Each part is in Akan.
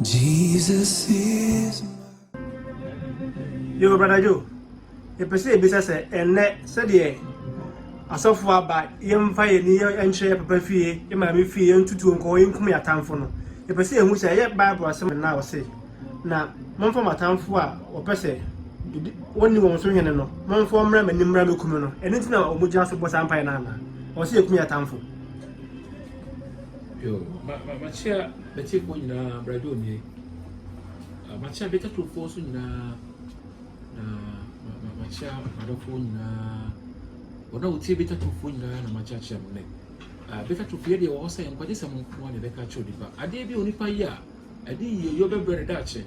Jesus is Yo, brother Joe, yɛpɛ sɛ yɛbisa sɛ ɛnnɛ sɛdeɛ asɔfoɔ aba yɛmfa yɛn ni nkyerɛ yɛ papa fie yɛ maame fie yɛntutuo nkɔ yɛnkum yɛ atamfo no yɛpɛ sɛ yɛhu sɛ ɛyɛ bible asɛm na ɔse na momfa mo atamfo a wɔpɛ sɛ wɔnni wɔn so hene no momfa mmra m'ani mmra mɛkum no ɛno nti na wɔgyina so bɔ saa mpaeɛ no ana ɔse yɛkum yɛ atamfo Yoo ma ma makyia bɛtifoɔ nyinaa brɛdwo nie ah, makyia bɛtatofoɔ nso nyinaa na ma ma makyia madɔfoɔ nyinaa wɔn a wɔtie bɛtatofoɔ nyinaa na makyia kyia mo nɛ ah, bɛtatofo yɛ deɛ wɔwɔ sɛ nkwagye sɛ mo nko a na ɛbɛka kyerɛ onipa adeɛ bi a onipa yɛ a ɛde yie yɛ ɔbɛbrɛ ne daakye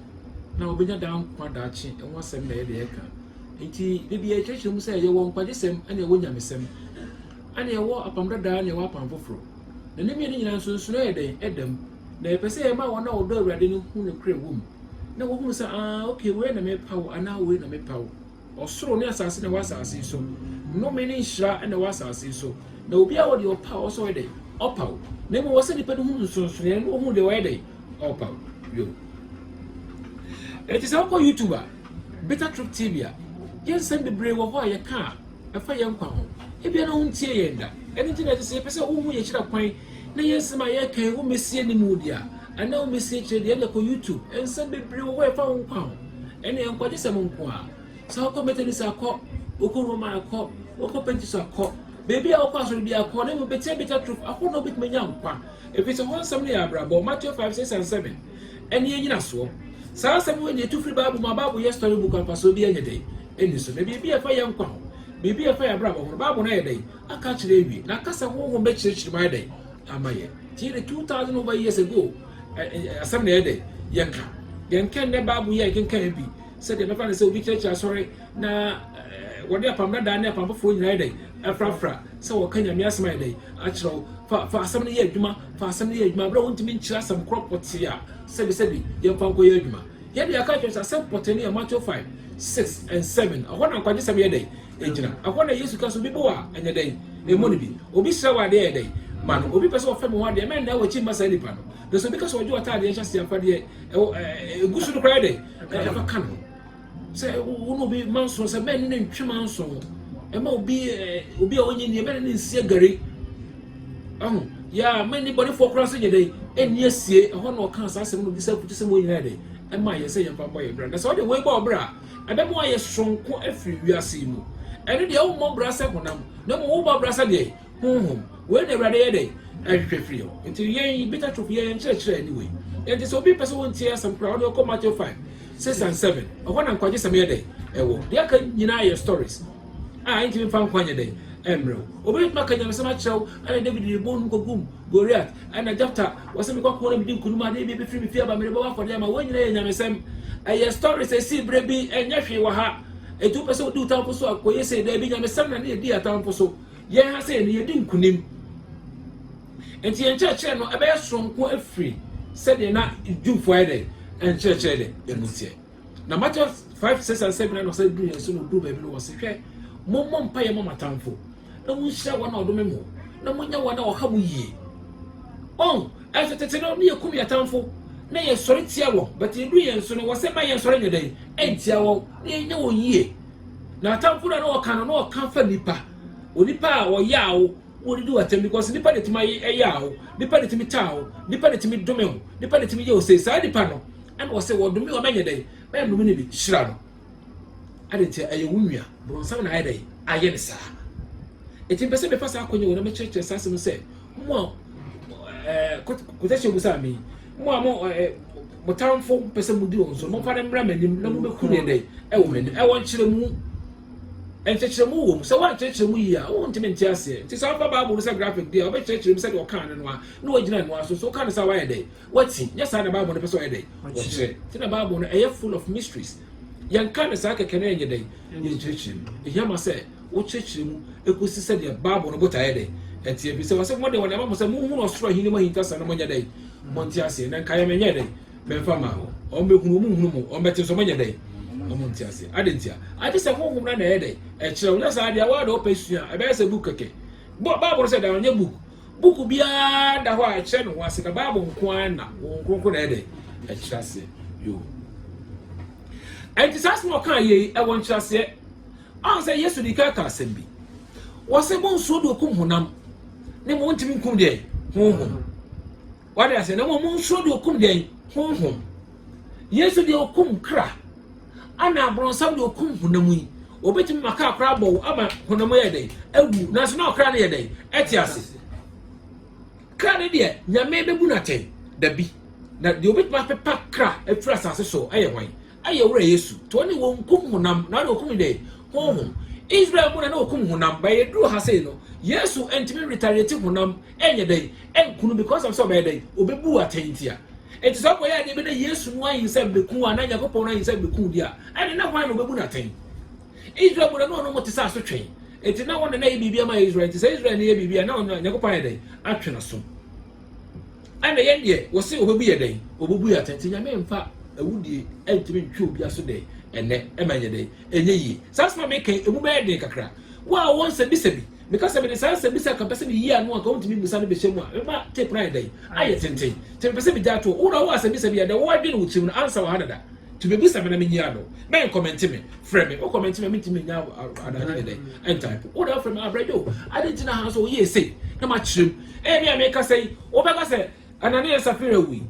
na wɔbɛnya daa nkwa daakye ɛho asɛm na ɛyɛ deɛ ɛka nti da bi yɛkyerɛkyerɛ mu sɛ yɛwɔ nkwagye sɛm ɛna ɛwɔ nyamesɛm a na yɛwɔ apam dada na yɛwɔ apam foforo, na ne mmienu nyinaa nsonsonoe yɛ dɛn? Ɛda mu. Na yɛpɛ sɛ yɛma wɔn a wɔdɔ Awurade no hu nokorɛ wom, na wɔhunu sɛ, aah, okay, wei na mepa wo, anaa wei na mepa wo. Ɔsoro ne asase na ɛwɔ asase yi so. Nnome ne nhyira na ɛwɔ asase yi so. Na obiara wɔ deɛ ɔpa a ɔwɔ sɛ ɔyɛ dɛn? Ɔpa wo. Na mmom ɛwɔ sɛ nnipa no hu nsonsonoeɛ na wɔhunu deɛ ɔyɛ dɛn? Ɔpa wo. Yo. Enti sɛ wokɔ YouTube a, Bitter Truth TV a, yɛn nsɛm bebree wɔ hɔ a yɛka a, ɛfa yɛn nkwa ho. Ebia na wontiee yɛn da. Ɛno nti na ɛsɛ sɛ yɛpɛ sɛ wohu yɛn akyiri kwan na yɛn nsɛm a yɛreka yi wommesie anim wo de a, anaa wommesie akyire de a, ɛnna kɔ YouTube. Nsɛm bebree wɔ hɔ a ɛfa wo nkwa ho. Ɛnneɛ, nkwagyesɛm nko ara. Sɛ wokɔ Methodist a, kɔ. Wokɔ Roman a, kɔ. Wokɔ Pentecost a, kɔ. Baabi a wokɔ asɔre biara, kɔ. Na mmom, betiabitia atoro ahorow na wubetumi anya nkwa, efisɛ hɔ nsɛm no yɛ abrabɔ. Mateo five, six and seven. Ɛnneɛ nnyinasoɔ. Saa asɛm wei deɛ ɛtu firi Bible mu a, Bible yɛ story book ampa so obiara nyɛ dɛn ɛnni so. Na biribi a ɛfa yɛn nkwa ho, biribi a ɛfa yɛn abrabɔ ho no, Bible no ayɛ dɛn aka akyerɛ awie, na aka sɛ Honhom bɛkyerɛkyerɛ mu ayɛ dɛn ama yɛn. Nti yɛde two thousand over years ago asɛm na ɛyɛ dɛn yɛka. Yɛn kɛ nnɛ Bible yi a yɛkenkan bi sɛdeɛ bɛfa no sɛ obi kyerɛkyerɛ asɔre na wɔde apam dadaa ne apam foforɔ nyinaa yɛ dɛn afrafra sɛ wɔka Nyame asɛm ayɛ dɛn akyerɛ wo fa fa asɛm no yɛ adwuma fa asɛm no yɛ adwuma bere a wontumi nkyerɛ asɛm koro pɔtee a, sɛbisɛbi, yɛmfa nkɔyɛ adwuma. Yɛn de, yɛaka akyerɛ wo sɛ asɛm pɔtee no yɛ Mateo five, six, and seven. Ɛhɔ na nkwagyesɛm yɛ dɛn? Egyina. Ɛhɔ na Yesu ka sɛ, Obi bo a, ɛnyɛ dɛn? Ɛmmɔ no bi. Obi srɛ wo adeɛ a, yɛ dɛn? Ma no. Obi pɛ sɛ ɔfɛm wo adeɛ a, mɛnnan w'akyi mma saa nipa no. Na sɛ obi ka sɛ ɔgye w'ataadeɛ nhyɛaseɛ afadeɛ a ɛwɔ ɛɛ egu so no koraa, yɛ dɛn? Ɛɛ, fa ka no ho. Sɛ wo ne obi manso sɛ bɛn ne ne ntwe manso ɛma obi eh, obi a ɔnyɛ nie bɛn ne ne nsi agari ɛho yɛ a ma ne bɔnefoɔ koraa nso nyɛ dɛ ɛnni asie ɛhɔ na ɔka saa asɛm no bisa aputu sɛ mo nyinaa dɛ ɛma yɛ sɛ yɛmfa mmɔ yɛ bra na sɛ ɔde wei bɔ ɔbra a ɛbɛma wayɛ soronko afiri wiase yi mu ɛno deɛ wommɔ bra sɛ honam na mmom wobɔ bra sɛ deɛ Honhom. Wei na Awurade yɛ dɛn? Ɛhwehwɛ firi hɔ. Nti yɛn yi, Bitter Truth, yɛn nkyerɛkyerɛ ne wei. Nti sɛ obi pɛ sɛ wɔntie asɛm koraa, ɔde ɔkɔ Matthew 5, 6 and 7. Ɛhɔ na nkwagyesɛm yɛ dɛn? Ɛwɔ. Deɛ aka nyinaa yɛ stories a ɛntumi mfa nkwa nyɛ dɛn? Ɛmmerɛ wo. Obi bɛtumi aka nyamesɛm akyerɛ wo, ɛna David de bɔn no kɔgum Goliath, ɛna Jephtha, wɔsɛ mekɔ ako na medi nkonim adeɛ bi bɛfiri me fie aba mede bɛbɔ afɔdeɛ ama. Wei nyinaa yɛ nyamesɛm. Ɛyɛ stories ɛsii berɛ bi, ɛnyɛ hwee wɔ ha. Ɛti wopɛ sɛ wodi wo tamfo so a, kɔyɛ sei. Daabi, nyamesɛm na ne yɛdi yɛn atamfo so. Yɛn ha sei no, yɛdi nkonim. Enti yɛn nkyerɛkyerɛ no, ɛbɛyɛ soronko afiri sɛdeɛ na Jewfoɔ ayɛ dɛ nkyerɛkyerɛ dɛ ɛmu teɛ. Na Matthew 5, 6 and 7 na na ɔsɛ duru yɛn so, na ɔduru baabi no, ɔse, Hwɛ, mommɔ mpaeɛ mma mo atamfo, na monhyira wɔn a wɔdome mo, na monyɛ wɔn a wɔha mo yie. Ɔn, ɛnso tete no, na yɛkum yɛn atamfo, na yɛsɔre tia wɔn, but ɛduru yɛn so no, wɔse, Ma yɛnsɔre nyɛ dɛn? Ɛntia wɔn, na yɛnyɛ wɔn yie. N'atamfo na na ɔka no na ɔka fa nipa onipa a ɔyaa wo wɔde di w'atɛm because nipa na etumi ayɛ ɛyaa wo nipa na etumi taa wo nipa na etumi dome wo nipa na etumi yɛ ose saa nipa no ɛna ɔsɛ wɔdome wɔn mɛnyɛ dɛn mɛyɛ dome ne bi hyira no ade nti ɛyɛ wo nua bronsam na ayɛ dɛn ayɛ ne saa eti mpɛ sɛ mefa saa akɔnyɛ wɔn na mekyerɛkyerɛ saa asɛm sɛ mo a ɛɛ kɔtɛhyɛ obusa mi Mo a mo ɛ mo tamfo pɛ sɛ modi wɔn so, momfa no mmra m'anim na mobɛku ne dɛn ɛwɔ m'anim. Ɛwɔ nkyerɛmu. Nkyerɛkyerɛmu wɔ mu. Sɛ woankyerɛkyerɛ mu yie a, wontumi nte aseɛ. Nti sɛ wofa Bible no sɛ graphic deɛ a, wobɛkyerɛkyerɛ mu sɛdeɛ ɔkaa no no ara na woagyina ɛno ara so. So woka no saa a, woayɛ dɛn? Woati. Nyɛ saa na Bible no pɛ sɛ ɔyɛ dɛn? Ɔkyerɛ. Nti na Bible no ɛyɛ full of mysteries. Yɛnka no saa kɛkɛ na yɛnyɛ dɛn? Yɛnkyerɛkyerɛ mu. Ɛhia ma sɛ. wokyerɛkyerɛ mu kosi sɛnea Bible no botaeɛ dɛ ɛteɛ, ɛfiri sɛ wɔse, Wɔde wɔn ama mo sɛ monhunu ɔsoro ahennie mu ahintasɛm no monyɛ dɛn? Monte aseɛ, na nkaeɛ me nyɛɛ dɛn? Memfa mmaa hɔ. Wɔbɛhunu, wɔnhunu mo, wɔbɛte nso, wɔnyɛ dɛn? Wɔnte aseɛ. Adɛn ntia? Agye sɛ Honhom no ara na ɛyɛ dɛn? Ɛkyerɛ. Wonyɛ saa deɛ, wo ara na wopɛ sua a, ɛbɛyɛ sɛ book kɛkɛ. Bo, Bible no sɛ dan, ɔnyɛ book. Book biara da hɔ a ɛkyerɛ ne ho ase, na Bible nko ara na Honhom Kronkron na ɛyɛ dɛn? Ɛkyerɛ aseɛ. Yoo. Ɛnti saa asɛm a ɔkaa yei, ɛwɔ nkyerɛaseɛ. Ansa Yesu de kan ka asɛm bi, wɔse monsuro deɛ ɔkum honam, na mmom ntumi nkum deɛ honhom. Wade ase, na mmom monsuro deɛ ɔkum deɛ honhom. Yesu deɛ ɔkum kra, ana aborɔnsam deɛ ɔkum honam yi, obetumi ma kra koraa bɔ wo ama honam yɛ dɛn awu, nanso na ɔkra no yɛ dɛn ɛte ase. Kra no deɛ nyame bɛbu no atɛn dabi, na deɛ obetumi apepa kra afiri asase so ɛyɛ hwan? Ayɛ Wura Yesu, to ɔne wɔn nkum honam, na ɔne wɔkum ne dɛn? Honhom. Israel mu na na wɔkum honam, but yɛduru ha sei no, Yesu ntumi retaliate honam nyɛ dɛn? Nku no because of sɛ ɔbɛyɛ dɛn? Ɔbɛbu atɛn ntia. Enti sɛ ɔkɔyɛ adeɛ bi na Yesu no ayinsɛm bɛku wo anaa Nyankopɔn no ayinsɛm bɛku wo deɛ a, ɛne na hwan na ɔbɛbu no atɛn? Israel mu na na ɔne wɔn te sɛ asotwɛn. Enti na wɔn na na ɛyɛ biribi ama Israel, enti sɛ Israel no yɛ biribi a na Nyankopɔn ayɛ dɛn? Atwe n'aso. Ɛna yɛn deɛ wose obebu yɛ dɛn obebu yɛ atɛn nti nyame nfa awudie ɛntumi ntwe obi aso dɛn ɛnɛ ɛma nyɛ dɛn ɛnyɛ yie saa asɛm a meka yi emu bɛyɛ den kakra wo a wowɔ nsɛbisa bi meka sɛ mede saa nsɛbisa ka pɛ sɛ meyi ano anka wontumi mmusa no bɛhyɛ mu a mema tape no ayɛ dɛn ayɛ tenten nti mepɛ sɛ megya to wo na wowɔ asɛbisa bi a dɛ woadwene wo tirim no ansa wɔ ha dada nti bɛbusa me na menyi ano bɛn kɔmɛnte me frɛ me wo kɔmɛnte me mentumi nya adaade ne dɛn ɛntae po wo na wofrɛ me abrɛdwo ade nti na ha nso woyɛ ɛsei na makyerɛ mu Ebia mekasa yi, wobɛka sɛ, Anania ne Safira wui,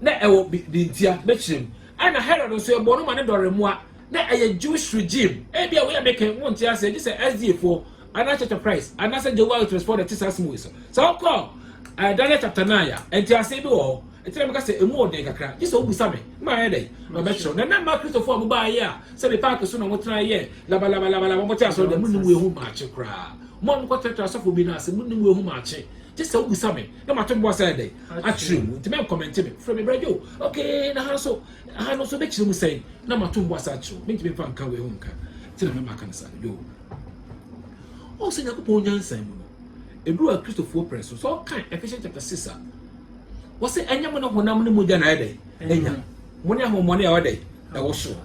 na ɛwɔ dintia, bɛkyerɛm. Ɛna Herod nso, yɛbɔɔ no ma ne dɔre mmoa, na ɛyɛ Jewish regime. Ebia wei a meka yi, wonte aseɛ, gye sɛ SDA foɔ, anaa Church of Christ, anaasɛ Jehovah Witness foɔ na ɛte saa asɛm wei so. Sɛ wokɔ uh, Daniel chapter 9 a, nteaseɛ bi wɔ hɔ. Ɛti na meka sɛ ɛmu ɔden kakra, gye sɛ wobisa me, na mayɛ dɛn, na ɔbɛkyerɛw. Na na mma Kristofoɔ a mobaeɛ a, sɛ me paake so na motena yɛ labalabalabalaba, mote asɔre dɛ, monim wei ho maakye koraa. Mo a mokɔtratra asɔfo bi no ase, mo ne mu ahu maakye. Gye sɛ wobisa me, na mato bo ase ayɛ dɛn? Akyerɛ mu. Enti mɛnkɔmɛnte me. Frɛ me Bra Joe. Okay, na ha nso? Ha no nso wobɛkyerɛ mu sɛn? Na mato bo ase akyerɛ wo. Mentumi mfa nka wei ho nka. Enti na mɛma aka no saa. Joe. Ɔhu sɛ Nyankopɔn nyansa mu no, ɛduru a Kristofoɔ pere so. Sɛ ɔka Ephesians chapter 6 a, ɔse ɛnyɛ mo ne honam ne mogya na ayɛ dɛn? Anya. Mo ne ahohommɔne a ɛwɔ dɛn? Ɛwɔ soro.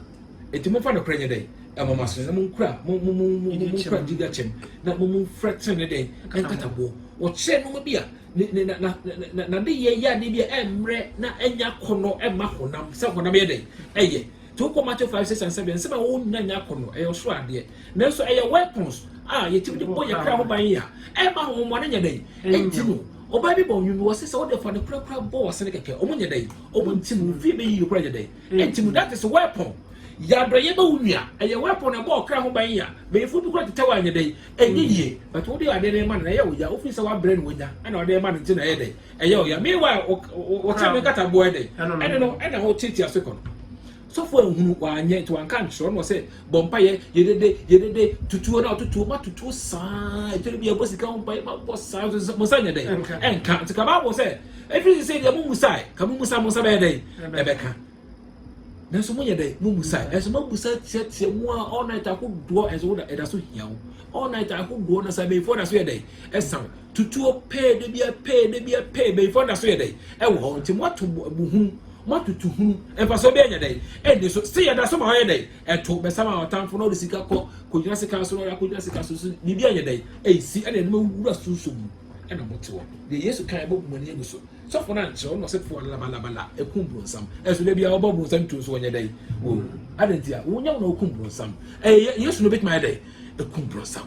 Enti momfa nokorɛ nyɛ dɛn? Ɛmɔ mo asene, na monkura mo mo mo mo mo monkura gyidie kyɛm, na mo momfira tenenee dɛn? Nkataboɔ. Wɔkyerɛ nneɛma bi a ne ne na na na n'adeyɛ yɛ adeɛ bi a ɛmmerɛ na ɛnyɛ akɔnnɔ ɛma honam sɛ honam yɛ dɛn? Ɛyɛ. Nti wokɔ Matthew five six and seven nsɛm a ɛwɔ hɔ nyinaa nyɛ akɔnnɔ, ɛyɛ ɔsoro adeɛ. Nanso ɛyɛ weapons a yɛtumi de bɔ yɛn kra ho ban a ɛmma ahohommɔne nyɛ dɛn? Ɛnti no. Ɔbaa bi bɔ nnwom bi, ɔse sɛ wode fa nokorɛ koraa bɔ w'asene kɛkɛ, wɔn nyɛ dɛn? Wɔn nti mu, wo fie bɛyiyi koraa nyɛ dɛn? Enti mu that is weapon yɛ adɔyɛ ma wo nua ɛyɛ weapon ɛbɔ ɔkra ho ban ya bɛyifo bi kora tetɛ wo anyɛ dɛn ɛnyɛ yie but wo de adeɛ no rema no na ɛyɛ wo ya wofiri sɛ wabrɛ no wanya ɛna wode rema no nti na ɛyɛ dɛn ɛyɛ wo ya meanwhile wo wo kyɛ me nkataboɔ ɛdɛn ɛno no ɛna wo tiatia so kɔ no sɔfo anhunu wanyɛ nti wanka nkyerɛ ɔno sɛ bɔ mpaeɛ yedede yedede tutuo na ɔtutuo ma tutuo saa efiri bi ɛbɔ sika ho mpaeɛ ma bɔ saa nso mo nsa nyɛ dɛ ɛnka nti ka baabo sɛ efiri sɛ sɛ deɛ mo musa ka mo musa mo nsa bɛyɛ dɛ ɛbɛka nanso mo yɛ dɛ mo musa ɛnso mo musa tiatia mu a all night ahodoɔ ɛnso ɛda so hia wo all night ahodoɔ na sɛ abɛnfoɔ da so yɛ dɛ ɛsa wo tutuo pɛɛ da bia pɛɛ da bia pɛɛ bɛyifoɔ da so yɛ dɛn ɛwɔ hɔ nti moato buhunu moatutu hunu mfasoɔ bi ɛnyɛ dɛn ɛnni so sɛ yɛda so ma ɔyɛ dɛn ɛto bɛsa ma ɔtamfo na ɔde sika kɔ kɔgyina sika so na ɔyɛ akɔgyina sika so so biribi ɛnyɛ dɛn ɛnsi ɛna ɛde mawura sunso mu ɛna mote hɔ deɛ yesu kan ɛbɔ mani agu so sɔfo no ankyerɛ ɔno ɔsɛ foɔ labalabala ɛkum bronsam ɛso da bia ɔbɔ bronsam tuo so ɔnyɛ dɛn wɔ adantia wonyɛ wo na ɔkum bronsam ɛyɛ yesu no bɛtumi ayɛ dɛn ɛkum bronsam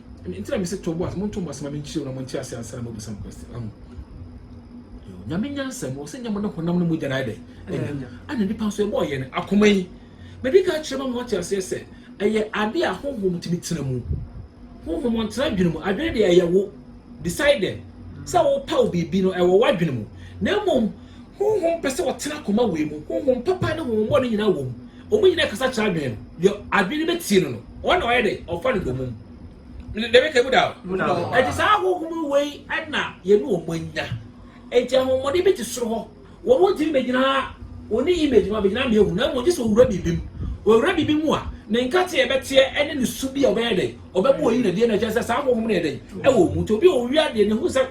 Ɛno nti na mese to bo ase, monto mo ase ma menkyerɛ mu na monte ase ansa na moabisa me question. Ahu? Yo, Nyame nyansa mu, ɔsɛ nyɛ mo ne honam ne mogya na ayɛ dɛ. Ɛnyɛ. Ɛna nipa nso yɛbɔɔ yɛn akoma yi. Mede ka kyerɛ ma mo ate aseɛ sɛ, ɛyɛ ade a honhom tumi tena mu. Honhom ɔntena adwene mu, adwene deɛ ɛyɛ wo, decided, sɛ wopaw biribi no, ɛwɔ w'adwene mu. Na mmom, honhom pɛ sɛ ɔtena akoma wei mu, honhom papa ne honhom bɔne nyinaa wɔ mu. wɔn nyinaa kasa kyerɛ adwene no deɛ adwene no bɛtie no no ɔna ɔyɛ dɛ ɔfa no dɔmum dɛbɛ ka mu da o ɛte saa ahohom wei ɛna yɛne wɔn anya ɛnti ahohommɔden bi te soro hɔ wɔn wɔn tumi bɛgyina wɔn ne image ma bɛgyina mmienu na mmom gye sɛ owura biribi mu owura biribi mu a ne nkate a ɛbɛteɛ ɛne ne su bi a ɔbɛyɛ dɛ ɔbɛma oyi na deɛ na ɛkyɛ sɛ saa ahohom no yɛ dɛ ɛwɔ wɔn mu nti obi a owia deɛ ne ho sɛ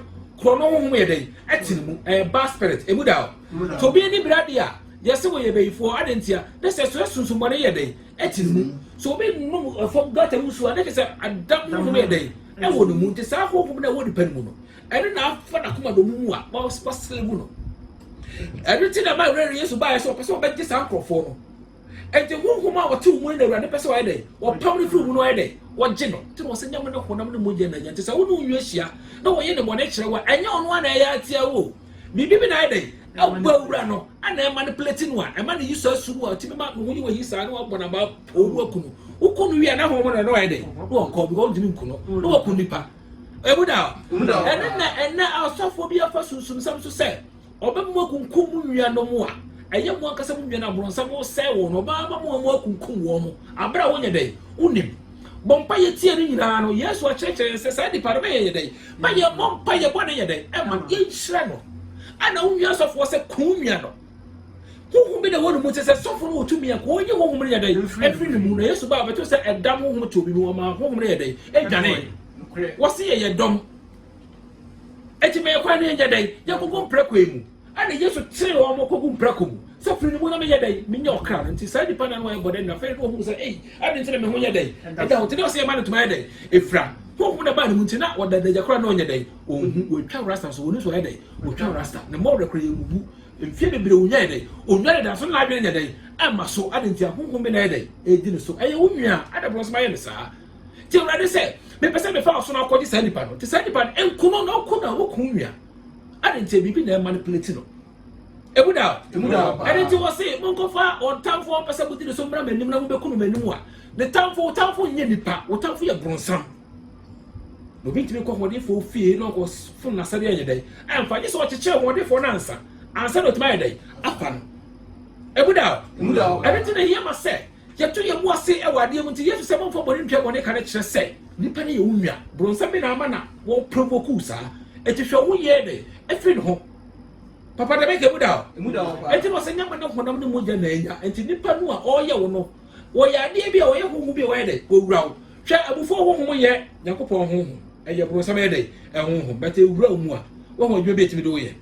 korɔ no ahohom yɛ dɛ ɛte ne mu ɛyɛ bad spirit emu da o nti obi ani bira deɛ a Yɛse wɔyɛ bayifoɔ, adɛn ntia? Na sɛ ɛsoɛ sunsumɔne yɛ dɛn? Ɛte ne mu. Sɛ obi nom fam gutter mu nsuo a, na kyerɛ sɛ adam honhom yɛ dɛn? Ɛwɔ ne mu. Nti saa honhom no a ɛwɔ nipa no mu no, ɛno na afa n'akoma dɔ no mu a waslave no. Ɛno nti na ɛma Awurade Yesu baeɛ sɛ ɔpɛ sɛ ɔbɛgye saa nkurɔfoɔ no. Nti honhom a wɔte wo mu no na Awurade pɛ sɛ ɔyɛ dɛn? Wɔpam no firi mu no ɔyɛ dɛn? Wɔgye no. Nti na wɔsɛ nyam ne honam ne mogya na nya. Nti sɛ wo ne wo nua hyia na wɔyɛ ne bɔne kyerɛ wo a, ɛnyɛ ɔno ara na ɛyɛ atia wo o. Biribi bi na ayɛ dɛn? Ɛboa wura no ana ɛma no plɛti no a ɛma no yi saa sum a ɔtumi ma ne ho yi wɔ yi saa na wabɔ na ba poo no aku no wokɔ no wie a na ho mu no na wayɛ dɛ na wɔnkɔ because ɔntumi nku no na waku nipa ɛmu da ɛne na ɛnɛ asɔfoɔ bi afa sunsumsɛm so sɛ ɔbɛmu akunkum mu nuanom a ɛyɛ mu ankasa mu nua no aborɔnsam wosɛe wɔn ɔbaa ma mu amu akunkum wɔn mo abere a wonyɛ dɛ wonim bɔ mpaeɛ tie no nyinaa no yesu akyerɛkyerɛ yɛn sɛ saa nipa no bɛyɛ yɛ dɛn ma yɛbɔ mpaeɛ bɔ ne yɛ dɛn ɛma yɛnhyira no ana wonwia asɔfoɔ sɛ ko nwia no honhom bi na ɛwɔ ne mu te sɛ sɔfo no wɔtumi a ko ɔnyi honhom no yɛ dɛn ɛfiri ne mu na yesu baa bɛto sɛ ɛdam honhom to obi mu ɔma honhom no yɛ dɛn ɛdwane wɔse yɛyɛ dɔm ɛti ma yɛkwan no yɛnyɛ dɛn yɛnkɔkɔ mpira kwan mu Ɛnna Yesu kyeree wɔn kɔguu mprako mu sɛ, Firi ne mu na menyɛ dɛn menyɛ ɔkra no. Enti saa nnipa nnan no ayɛ bɔne anwummere. Afei na wɔhunu sɛ, Ei, adɛn nti na me ho nyɛ dɛn da ho te? Dɛn ɔsɛ yɛmma no ntoma yɛ dɛn? Ɛfira. Honhom na ɛbaa ne mu nti, na ɔda adagya koraa na ɔnyɛ dɛn? Ɔnhu. Wɔatwa rasta nso, wɔnim sɛ ɔyɛ dɛn? Wɔtwa rasta. Ne mmɔ werɛ koraa, yɛawuwu. Mfeɛ bebree a ɔnyaeɛ dɛn? Ɔnware da, nso na n'adwene nyɛ dɛn? Ɛmma so. Adɛn nti a honhom bi na ɛyɛ dɛn? Ɛredi no so? Ɛyɛ wo nua a ada borɔnsoma yɛ no saa. Gye Awurade sɛ mepɛ sɛ mefa ɔsono akɔgye saa nnipa no. Te saa nnipa no, nkono na ɔko na wɔku wo nua. Ade nti biribi na ɛma no pileti no. Emu da o. Emu da o. Ɛde nti wɔ se monkɔfa wɔn tamfo a ɔpɛ sɛ modi ne so mmra m'anim na mobɛku no m'anim a ne tamfo wo tamfo nyɛ nipa wo tamfo yɛ bronsam. Na obi ntumi kɔ hoɔdenfoɔ fie na ɔkɔ fom n'asɛdeɛ ɛnyɛ dɛn ɛmfa nye sɛ ɔkyekyɛ hoɔdenfoɔ no ansa ansa na ɔtumi ayɛ dɛn afa no. Emu da o. Emu da o. Ɛde nti na ɛhia ma sɛ Yɛto yɛn bo ase wɔ adeɛ mu nti Yesu sɛ mommfa bɔne ntua bɔne ka no kyerɛ sɛ nnipa no yɛ wo nua. Bronsam bi na ama na wɔ provoke wo saa. Enti hwɛ wo yɛɛ dɛ afiri ne ho. Papa dɛm ɛka emu da hɔ. Emu da hɔ paa. Enti na ɔsɛ nyama ne honam ne mogya na anya. Enti nnipa no a ɔreyɛ wo no wɔyɛ adeɛ bi a wɔyɛ honhom bi a wɔyɛ dɛ wɔwura wo. Hwɛ abufuo honhom nyɛ Nyankopɔn honhom ɛyɛ bronsam ɛyɛ dɛ ɛhonhom but ɛwura wo mu a wahu adwuma bi a ɛtumi de wo yɛ.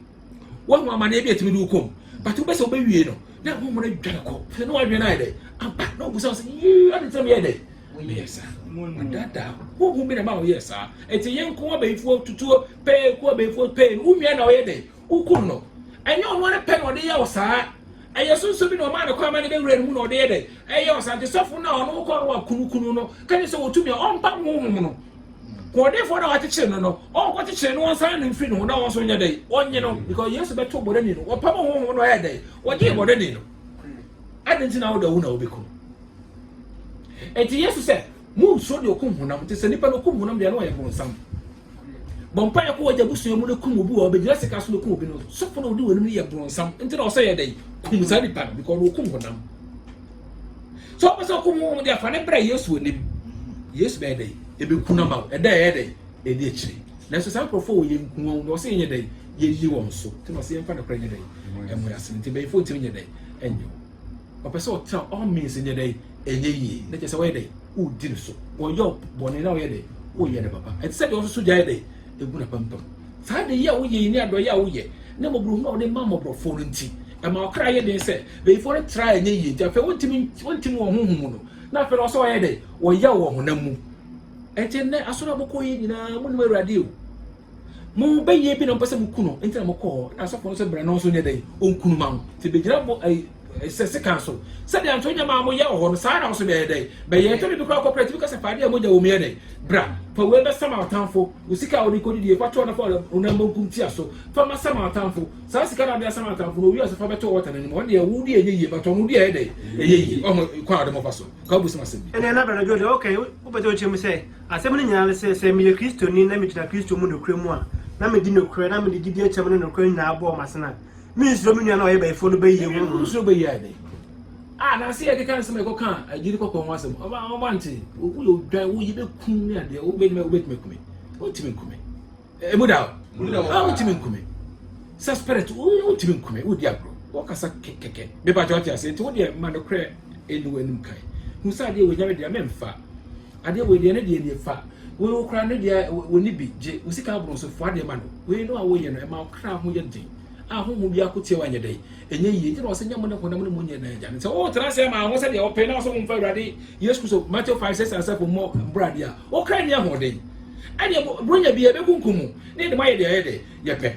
woahu amanneɛ bi a ɛtumi de wo kɔm but wobɛ sɛ wobɛwie no na honhom no adwane kɔ fɛ ne woadwene no ayɛ dɛ aba na wobusa wo sɛ yii ade ntina meyɛ dɛ meyɛ saa adaadaa honhom bi na ma woyɛ saa ɛti yɛ nko abɛyifoɔ tutuo pɛɛ ku abɛyifoɔ pɛɛ no wo nua na ɔyɛ dɛ wokum no ɛnyɛ ɔno ara pɛ na ɔde yɛ wo saa ɛyɛ sunsun bi na ɔmaa ne kɔ ama ne bɛwura ne mu na ɔde yɛ dɛ ɛyɛ ɔsante sɔfo na ɔno kɔ no wakunukunu no kane sɛ wɔtumi a ɔmpa honhom no Hoɔdenfoɔ no a wakyekyere no no, ɔnkɔ kyekyere no ɔnsan no mfiri ne ho na wɔn nso nyɛ dɛn ɔnye no because Yesu bɛto bɔdani no wɔpam honhom no ɔyɛ dɛn wɔgyee bɔdani no adi nti na wode ɔwu na wobɛkum enti Yesu sɛ monsuo deɛ ɔkum honam nti sɛ nipa no ɔkum honam deɛ no ɔyɛ bonsam bɔmpa yɛ kɔ wɔgya busua mu no kum obi wɔ ɔbɛgyina sika so no kum obi no sɔfo na ɔdi wɔn anim no yɛ bonsam nti na ɔsɛ yɛ dɛn kum saa nipa no because ɔkum honam sɛ wɔpɛ sɛ ɔkɔ mu wɔn de afa ne brɛ yesu onim yesu bɛyɛ dɛ ebi kun ama wɔn ɛdɛ ɛyɛ dɛ ɛdi akyire nanso saa nkurɔfoɔ wɔ yɛn kun wɔn wɔsɛ yɛnyɛ dɛ yɛnni wɔn so nti na ɔsɛ yɛmfa no korɛ nyɛ dɛ ɛmo yɛ asene nti bɛyifo ntumi nyɛ dɛ ɛnyɛ wɔpɛ sɛ ɔtena all means nyɛ dɛ ɛnyɛ yie na kyɛ sɛ wɔyɛ dɛ wodi ne so wɔyɛ bɔne na wɔyɛ dɛ woyɛ ne papa ɛte sɛ deɛ ɔsoso gya yɛ dɛ egu n'apampam. Saa adeyɛ a woyɛ yi ne adɔeyɛ a woyɛ ne mmɔborɔhunu a wode ma mmɔborɔfoɔ no nti, ɛma wo kra yɛ den sɛ bayifoɔ no tra a ɛnyɛ yie nti afei wontumi wontim wɔn honhom mu no, na afei na wɔsɛ wɔyɛ dɛn? Wɔyaw wɔ honam mu. Ɛnti nnɛ asɔre a mokɔ yɛ nyinaa monim Awurade o. Mo bɛyɛ bi na mopɛ sɛ moku no nti na mokɔ hɔ na asɔfo no sɛ bra na ɔnso nyɛ dɛn? Ɔnkunu ma wo. Nti bɛgyina bɔ ɛyi. sɛ sekan so. Sɛdeɛ anka wonya maa mo yɛ wɔ hɔ no, saa ara na wo so bɛyɛ dɛn? Bɛyɛ. Tɛmɛ bi koraa kɔ prɛte bi ka sɛ, Fa adeɛ a mogya wɔ mu yɛ dɛn? Bra, fa wei bɛsa ma w'atamfo. Wo sika a wode kɔdidie, fa to na fa wo nan benkum tia so. Fa ma sa ma w'atamfo. Saa sika no a wode asa ma w'atamfo no, owiee a, so fa bɛto ɔta no anim? Ɔno deɛ, wo deɛ ɛnyɛ yie, but ɔno deɛ ɛyɛ dɛn? Ɛyɛ yie. Woahu kwan a wode mo fa so ka wobosome asɛm bi? Ɛnneɛ na Brada Joe deɛ ɔka yi, wopɛ sɛ wokyerɛ mu sɛ, asɛm no nyinaa ne sɛ, sɛ meyɛ Kristoni na megyina Kristo mu nokorɛ mu a, na medi nokorɛ, na mede gyidie kyɛm ne nokorɛ nyinaa bɔ wɔn asene a, mensuro me nua no a ɔyɛ bayifoɔ no bɛyie ho no. Wosuro bɛyie ayɛ dɛn? Ah, na ase yɛde ka nsɛm a ɛkɔka agyiri kɔkɔɔ ho asɛm. Ɔba ɔba nte. Woyɛ odwan, wo yɛbɛkum ne adeɛ. Wobɛtumi wobɛtumi akume. Wotumi nkume. Emu da hɔ. Ah, wotumi nkume. Sɛ spirit, wotumi nkume. Wodi agorɔ. Wɔkasa kɛkɛkɛ. Mepa kyɛ ɔte ase. Nti wodeɛ ma no korɛ ɛnu anim kan. Hu sɛ adeɛ wɔ nyame deɛ mɛmfa. Adeɛ wei deɛ ne deɛ nie fa wei wo koraa ne deɛ wɔni bi gye wo sika aboro nso foa deɛ ma no wei no a woyɛ no ɛma wo kra ho yɛ den a honhom bi ako tia wanyɛ dɛn ɛnyɛ yie nti na ɔsɛ nyɛ mo ne honam ne mo nyɛ na agya no sɛ wotra ase ama ho sɛdeɛ ɔpɛ na ɔsɛ womfa awurade yesu kristo matthew 5 6 asafo mmɔ mbrade a wo kra nni ahoɔden ɛdeɛ buronya bi ɛbɛkunkum mu ne yɛde moayɛ deɛ ɛyɛ dɛ yɛpɛ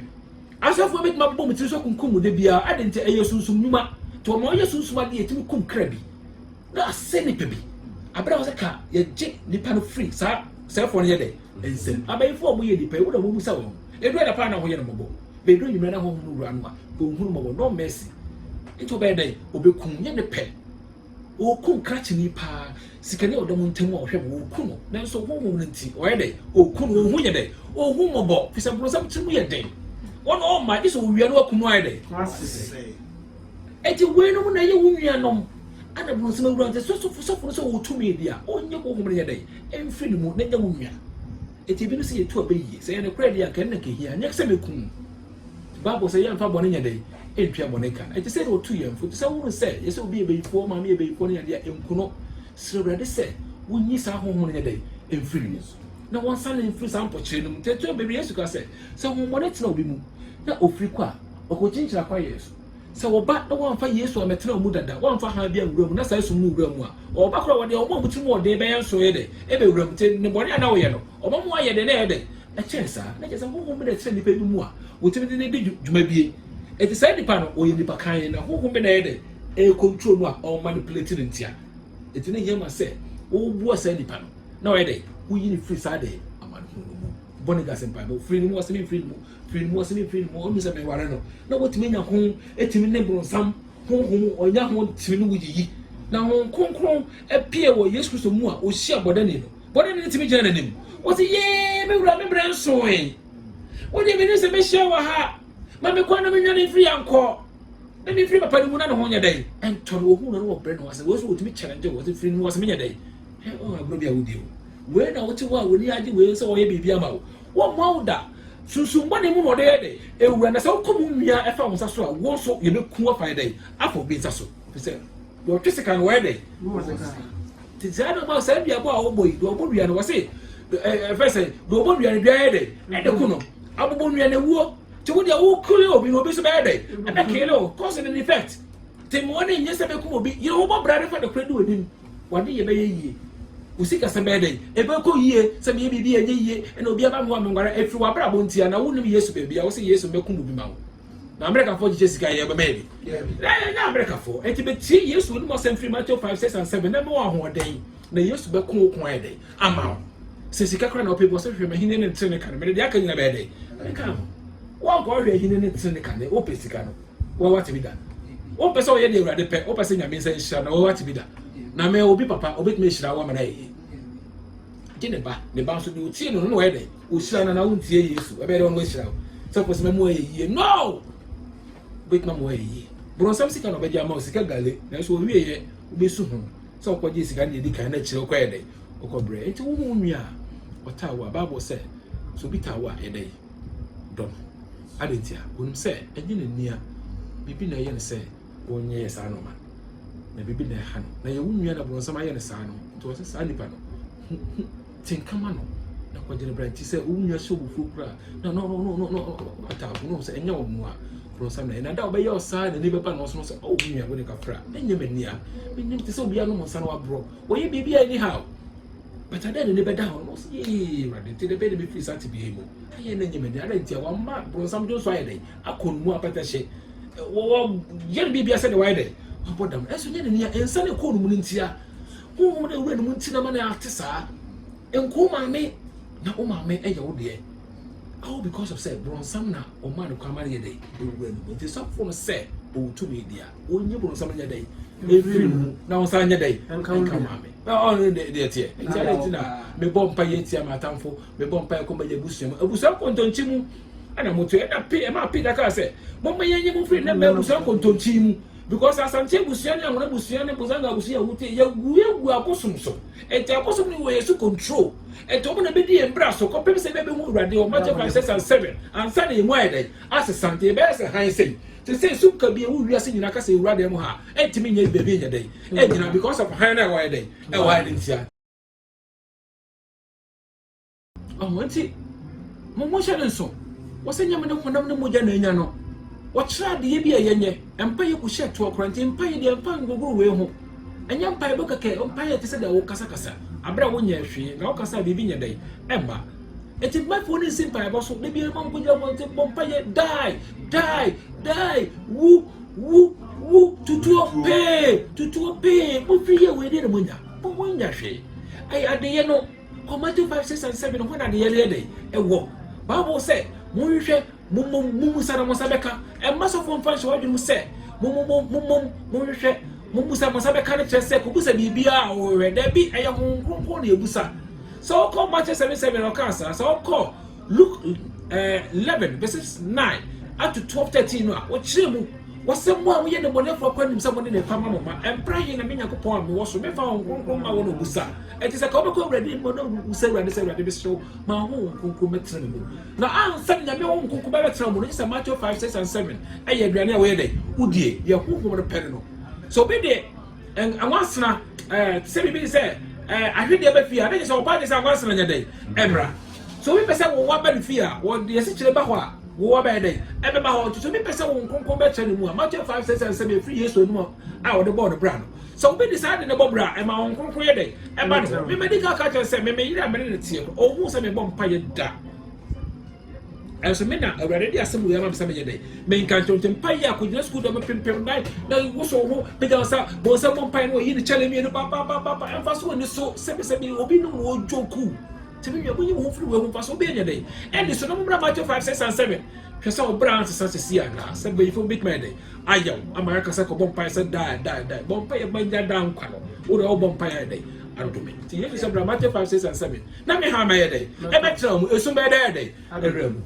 asɔfoɔ bɛtumi abobɔ mu tiri so kunkum mu da biara ade nti ɛyɛ sunsum nnwuma nti ɔma ɔyɛ sunsum adeɛ ɛtumi kum kra bi na asɛ nipa bi abira wɔsɛ ka yɛgye nipa no firi saa sɛfoɔ no yɛ dɛ nsɛm mm. abayifo a wɔyɛ nipa yi wɔn na wɔn musa wɔn edu ɛna paa na wɔyɛ no mɔbɔ beedu enyimrɛ na wɔn wura no a wɔn hunu mɔbɔ no mɛsi nti ɔbɛyɛ dɛ ɔbɛkum nyɛ ne pɛ ɔkum krakyini paa sikani a ɔda mu ntam a ɔhwɛ mu ɔku no nanso ɔhu wɔn no nti ɔyɛ dɛ ɔku no ɔhu yɛ dɛ ɔhu mɔbɔ fisɛ borosɛm ti mu yɛ den wɔn ɔma gye sɛ ɔwia no akum no ayɛ dɛ Enti weinom na ɛyɛ wo nuanom, ɛnna boro nsɛm awura nti sɔfo sɔfo no sɛ ɔwɔ tumi bi a, ɔnyɛ honhom no nyɛ dɛn? Ɛmfiri ne mu na ɛnyɛ wo nua. Enti ebinom sɛ yɛtu abɛ yiye. Sɛ ɛyɛ nokorɛ deɛ anka ɛno na ɛkɛhia, ɛnyɛ sɛ mɛku wo. Bible sɛ yɛmfa bɔne nyɛ dɛn? Ɛntua bɔne ka. Ɛte sɛ deɛ ɔtu yɛn fo. Ɛfiri sɛ wohunu sɛ yɛ sɛ obi yɛ bayifoɔ, wo maame yɛ bayifoɔ ne adeɛ a, ɛnku no. Srɛ Awurade sɛ wonyi saa honhom no nyɛ dɛn? Ɛmfiri ne mu. Na wɔnsane no mfiri saa mpokyerɛ no mu. Nti ɛtu abɛ wie. Yesu kaa sɛ, sɛ honhommɔne tena obi mu na ɔfiri kɔ a, ɔkɔkyinkyini akwayeɛ so. Sɛ wɔba na wɔamfa Yesu ammɛtena wɔn mu dada, wɔamfa hann bi anwura wɔn mu, na saa esum no wura wɔn mu a, wɔba koro a wɔde wɔn a wɔn tirim wɔ den bɛyɛ nso yɛ dɛ? Ebewura mu. Nti, nnebɔne a na wɔyɛ no, wɔma mu ayɛ dɛ na ɛyɛ dɛ. Ɛkyɛn saa, na kyerɛ sɛ honhom bi na ɛtena nnipa bi mu a wotumi de no di dwuma bi. Enti saa nipa no, ɔyɛ nipa kann, na honhom bi na ɛyɛ dɛ ɛrekontrol no a ɔremanipulate no ntia. Enti na ehia ma sɛ wobua saa nipa no, na ɔyɛ dɛ woyi no firi saa dɛ amanehunu no mu. Bɔne Gase Mpaebɔ, Firi ne mu, Ɔse memfiri ne mu, Pere ne mu, ɔse me pere ne mu, ɔnhu sɛ meware no. Na wotumi anya ho tumi ne bronsam honhom, ɔnya ho tumi ne wo yiyi. Na Honhom Kronkron pue wɔ Yesu Kristo mu a, ohyia bɔdani no. Bɔdani no tumi gyina n'anim. Ɔse, Yee, me wura, me berɛ nsoe. Wo deɛ menim sɛ mɛhyia wɔ ha. Ma me kwan na menwane mfiri ha nkɔ. Na memfiri papa no mu na ne ho nyɛ dɛn. Ɛntɔ no, ɔhu no na ɔbrɛ ne ho ase. Wei nso wɔtumi challenge wo, ɔse firi ne mu, ɔse menyɛ dɛn. Hwɛ wo agorɔ bi a wodi o. Wei na wote hɔ a w'ani agye wei sɛ ɔyɛ biribi ama wo. Wɔmmoa wo da. Sunsum bɔne mu na ɔde yɛ dɛ. Ewura na sɛ wokɔ mu mia ɛfa wo nsa so a, wo nso yɛbɛku wo afa yɛ dɛn? Afa obi nsa so. Ɛfiri sɛ deɛ ɔtwe sekan no wɔyɛ dɛn? Wɔbɔ no sekan. Nti saa na ɔma saa duabɔ a wɔbɔ yi, deɛ ɔbɔ dua no wɔse ɛ ɛfɛ sɛ deɛ ɔbɔ dua no dua yɛ dɛn? Ɛde ko no. Abobɔ nnua na ɛwuo. Nti wo deɛ wokele obi no obi nso bɛyɛ dɛn? Ɛbɛkele wo. Cause and effect. Nti mmoa no nyɛ sɛ ɛbɛkum obi. Yere wo bɔ bra na fa nokorɛ di w'anim. W'ade yɛ bɛyɛ yie. Wo sikasɛm bɛyɛ dɛn? Ɛbɛkɔ yie. Sɛ meyɛ biribi a ɛnyɛ yie na obi aba me hɔ a menware a, ɛfiri w'abrabɔ nti anaa wonim Yesu baabi a wose Yesu mmɛkum obi ma wo? Na Amerikafoɔ kyekyɛ sika yɛ bɛma yɛde. Na yɛnyɛ Amerikafoɔ. Enti bɛtie Yesu wonim asɛm firi Mateo 5, 6 and 7 na ɛbɛma wo ahoɔden. Na Yesu bɛko wo ko ayɛ dɛn? Ama wo. Sɛ sika koraa na wopɛ bi wɔ sɛ hwehwɛ m'ahennie ne ne tenenee kane, mede deɛ aka nyina bɛyɛ dɛn? Mɛka ho. Woankɔ ahwɛ ahennie ne ne tenenee kane, wopɛ sika no. W'awate bi da? Wompɛ sɛ woyɛ deɛ Awurade pɛ? Wopɛ sɛ Nyame nsa nhyira na w'awate bi da? Na mɛ obi papa obɛtumi ahyira wo ama no ayɛ yie. Gye ne ba, ne ba nso deɛ otie no no na wɔyɛ dɛn? Wohyira no na wontie Yesu. Ɛbɛyɛ dɛ wɔn ahyira wo. Sɛ kɔsi mɛ mu ayɛ yie. No! Wobɛtumi ama wɔayɛ yie. Borɔnsam sika na ɔbɛgye ama wo, sika gale. Nanso ɔwieɛ wobɛsu ho sɛ ɔkɔgye sika no deɛ ɛdi kan na akyire ɔkɔyɛ dɛn? Ɔkɔbrɛ. Nti wo ho nwi a ɔtaa wo a, Bible sɛ, sɛ obi taa wo a, ɛdɛn? dɔ no. Adɛn ntia? Wɔnim sɛ ɛnyɛ n'ani a biribi na ɛyɛ no sɛ wɔnyɛɛ saa nnoɔma no, na biribi na ɛha no, na yɛwo nua na borɔnsam ayɛ no saa no, nti ɔsɛ saa nipa no ho ho tenkama no na kɔgyina bra nti sɛ wo nua hyɛ obufuo koraa na no no no no no ɔtaafo no sɛ ɛnyɛ wɔn a borɔnsam na ɛyɛ na da ɔbɛyɛ ɔsaa na ne bɛba na ɔsono sɛ ɔwo nua wo ne kafra ɛnyɛ m'ani a menim te sɛ obiara nom nsa no aborɔ wɔyɛ biribi a ɛni ha o But adɛn na ne bɛda hɔ na ɔsɛ yee awurade nti na bɛyɛ na mefiri saa tebea yi mu ayɛ na nyɛ m'ani adɛn nti a wama bronsam dwo nso ayɛ dɛn akɔ no mu apɛtɛhye wɔyɛ no biribia sɛdeɛ wayɛ dɛn wabɔ dam ɛnso nyɛ n'ani a nsa ne kɔɔ no mu no nti a honhom no awura no mu nti na ma no ate saa nkoo maame na wo maame yɛ wo deɛ all because of sɛ bronsam na ɔma no kwan ma no yɛ dɛn ɛwura no mu nti sɔfo no sɛ ɔwɔ tumi deɛ ɔnyi borɔnsam nyɛ dɛn ɛfiri mu na ɔnsan nyɛ dɛn nka ma me na ɔno deɛ teɛ nti adɛ nti na mebɔ mpa yɛ tia m'atamfo mebɔ mpa yɛ kɔma yɛ abusua mu abusua nkontonkyi mu ɛna moto ɛna pe ɛma pe daka sɛ mɔmma yɛ nye mo firi na mɛ abusua nkontonkyi mu because asante abusua ne ahoro abusua ne bozanga abusua yɛwute yɛgu yɛgu abosom so ɛnti abosom ne wɔ yɛ so control ɛnti ɔmo na bɛdi yɛn bra so kɔpem sɛ bɛbɛhu awurade ɔma kyɛ 5 6 and 7 ansa na yɛmu ayɛ dɛn asesante yɛbɛyɛ sɛ han sɛi Te sɛ esum kabii a ɛwɔ wiase nyinaa kasa ewura dan mu ha a, ɛntumi nyɛ baabi nyɛ dɛn nnyina because of hann no a ɛwɔ ayɛ dɛn ɛwɔ ha no ntia. Ɔho nti, mo mo nhyɛ no nso, wɔsɛ nyɛ mene honam ne mogya na anya no, wɔkyerɛ adeyɛ bi a ɛyɛ nyɛ, mpaeɛ ku hyɛ toɔ koraa, nti mpaeɛ deɛ mfa ngogoro wei ho, ɛnyɛ mpaebɔ kɛkɛ, mpaeɛ te sɛ deɛ wo kasa kasa, aberɛ a wo nyɛɛ hwee, na wo kasa a biribi nyɛ dɛn ɛmma. Enti mmafoɔ no nsi mpaebɔ so, da biara mma nkɔgyina abɔnten bɔ mpaeɛ, die, die, die, wu, wu, wu, tutuo pee, tutuo pee, motwe yɛ wei deɛ na monya, mo monya hwee. Ɛyɛ adeyɛ no, kɔ Matthew 5, 6 and 7 hɔ na adeyɛ no yɛ dɛn ɛwɔ. Bible sɛ, monhwehwɛ Mommom mummusa na mo nsa bɛka. Ɛmma sɔfoɔ mfa nhyɛ w'adwene mu sɛ mommom mommom monhwehwɛ mummusa mo nsa bɛka no kyerɛ sɛ kɔbusa biribiara a wɔhwehwɛ. Dabi, ɛyɛ Honhom Kronkron na ɛbusa. Sɛ wokɔ Matthew 7:7 a ɔkaa saa, sɛ wokɔ Luke eh, 11 verses 9 up to 12 13 no a wɔkyerɛ mu wɔsɛ mo a moyɛ nnebɔnɛfoɔ akɔ anim sɛ mo ne ne pa ma mo ma ɛmpra he na me nyankopɔn a mewɔ so mefa ho kronkron ma wɔ no busa ɛnti sɛ ka wobɛkɔ awurade mu na wusɛ awurade sɛ awurade mesrɛ wo ma ho wo kronkron mɛtena me mu Na ansa na Nyame Honhom Kronkron bɛbɛtena mo no, gye sɛ Matthew five, six and seven ɛyɛ aduane a wɔyɛ dɛn? Wodie, deɛ Honhom no pɛ no no. Sɛ obi de nwansena, ɛɛ, te sɛ biribi te sɛ ɛɛ ahwedeɛ ba fie a, na gye sɛ wɔpae gye sɛ anwansena nyɛ dɛn? Ɛmmra. Sɛ obi pɛ sɛ wo wa ba ne fie a, wɔde asikyire ba hɔ a, wo wa bɛyɛ dɛn? Ɛbɛba hɔ. Nti sɛ obi pɛ sɛ Honhom Kronkron bɛtra ne mu a, Matthew five, six and seven ɛfiri Yesu anom a wɔde bɔɔ no bra no. Sɛ obi de saa ade no bɔ bra a, ɛma Honhom Kronkron yɛ dɛn? Ɛba ne hɔ. Me madi kan aka akyerɛ no sɛ, me me yere a me ne no teɛ no, ɔnhuu sɛ mebɔ mpaeɛ da. Nanso me na Awurade de asɛm wei ama me sɛ menyɛ dɛn? Menka nkyerɛ wo. Nti mpaeɛ a, kɔgyina sukuu dɔ, mepempem nan, na woso wo ho, pagya wo nsa, bɔ nsam bɔ mpaeɛ na wayi ne kyale mmienu papaapapa. Ɛmfa so ɔni so sɛbisɛbi, obi nom na ɔdwoku. Nti me nua, monyi mo ho mfiri wei ho. Mfasoɔ bɛn anya dɛn? Ɛnni so na mommra Matthew 5, 6 and 7. Hwɛ sɛ wo bra ansesa seesei anaa? Sɛ mpanyimfoɔ bɛtumi ayɛ dɛn? ayɛ wo ama yɛaka sɛ kɔbɔ mpaeɛ sɛ daa ɛda ɛda ɛbɔ mpaeɛ ma nya daa nkwa no wo deɛ wobɔ mpaeɛ ayɛ dɛn adome nti yesu sɛ bra mate 5 6 and 7 na me ha mɛyɛ dɛn ɛbɛtena mu ɛsum bɛyɛ dɛn dɛn ɛwerɛ mu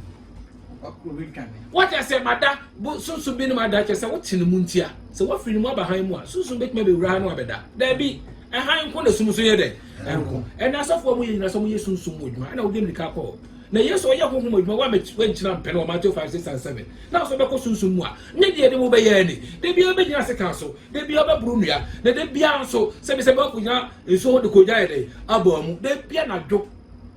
wate asɛ mada sunsun bi ne mu ada kyɛ sɛ wote ne mu ntia sɛ woafiri ne mu aba han mu a sunsun bɛtumi abɛwura ha no abɛda daabi ɛhan nko na sum so yɛ dɛn ɛnko ɛna asɔfoɔ mu yɛ nyina sɛ moyɛ sunsun mu adwuma ɛna wode mmirika kɔɔ Na Yesu ɔyɛ honhom adwuma wa mɛ wankyina mpɛ no wɔ Mateo 5, 6 and 7. Na ɔsɔ bɛkɔ sunsum mu a, ne deɛ de mo bɛyɛ ani. Da biara ɔbɛgyina sekan so, da biara ɔbɛboro nnua, na da biara nso sɛ bi sɛ bɛ akɔgyina nsuo ho de kɔ ogya ayɛ dɛn? Abɔ amu. Da biara anadwo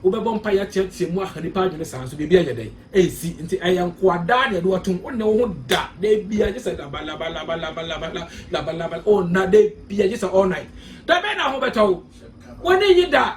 wobɛbɔ mpaeɛ ateatea mu aha nipa adwene saa nso biribi ayɛ dɛn? Ansi. Nti ɛyɛ nkoa daa na ɛde watom. Wonnɛ wo ho da, da biara gye sɛ laba laba laba laba laba la, laba laba la, ɔnna da biara gye sɛ all night. Da bɛn na ho bɛtɔ wo? W'ani nnye da.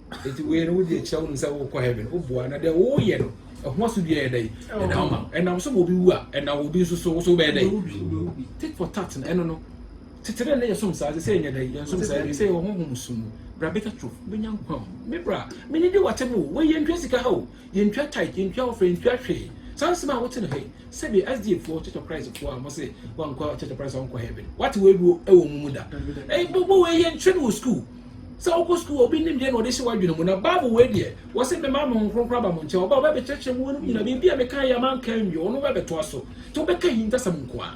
Enti wei no wode akyerɛ wonom sɛ wokɔ heaven woboa na deɛ woyɛ no ɛho asodua yɛ dɛn ɛda wo ma ɛnam so ma obi wu a ɛnam wɔ obi nso so wo so wobɛyɛ dɛn tit for tat no ɛno no tete dɛ na yɛsom saa sɛ yɛnyɛ dɛn yɛnsom saa bi sɛ yɛwɔ honhom som mu bra bɛka turo wobɛnya nkwa o me bra menye de wakyɛ mu o wɔyɛ ntwa sika ha o Yɛntua tithe, yɛntua offering, yɛntua hwee. Saa nsɛm a wote no hɛ yi, sɛdeɛ SDA foɔ, Church of Christ foɔ a wɔse wɔnkɔ Church of Christ a wɔnkɔ heaven no, wate wei bi wɔ wɔn mu da? Ɛyi bɔ bɔ wei yɛnkyerɛ no wɔ school. Sɛ wokɔ school a obi nim deɛ na ɔde hyɛ w'adwene mu na Bible wei deɛ wɔse mema me Honhom Kronkron aba mo nkyɛn, ɔba a ɔbɛbɛkyerɛkyerɛ mo wei nom nyina biribi a mekaeɛ a manka anwie ɔno bɛbɛtoa so. Nti wobɛka ahintasɛm nko ara.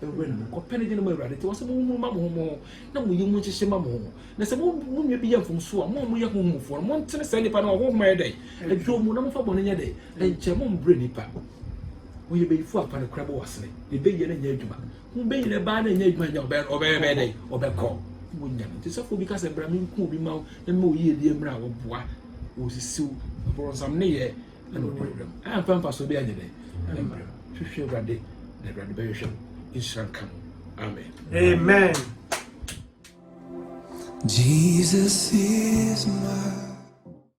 Wura no, monkɔpɛ ne dwene ma Awurade, enti wɔse monwummuru mma mo ho mo ho, na mo yamu nhyehye mma mo ho. Na sɛ mo mo nua bi yɛ mfomsoɔ a, mo a moyɛ honhomfoɔ no, montene saa nipa no a ɔhonhom ayɛ dɛn? Adwo mu, na momfa bɔne nyɛ dɛn? Nkyɛ, mombrɛ nipa. Ɔyɛ bayifoɔ a, fa no kora bɔ w'asene, na ɛbɛ yɛ na ɛnyɛ adwuma. Ho bɛ nyina ɛbaa na ɛnyɛ adwuma nyɛ, ɔbɛ, ɔbɛ, ɔbɛyɛ dɛn? Ɔbɛkɔ. Monya no. Nti sɔfoɔ bi ka sɛ, bra menku obi mma wo, na mema wo yiedie mmra a, ɔboa, ɔsisiw, aborɔnsam nneyɛɛ. na ɔne wo mmerɛ mu ɛmfa mfasoɔ bi anyɛ dɛ ne mmerɛ mu hwehwɛ awurade na awurade bɛhwehwɛ no nhyira nka mu amen amen Jesus is my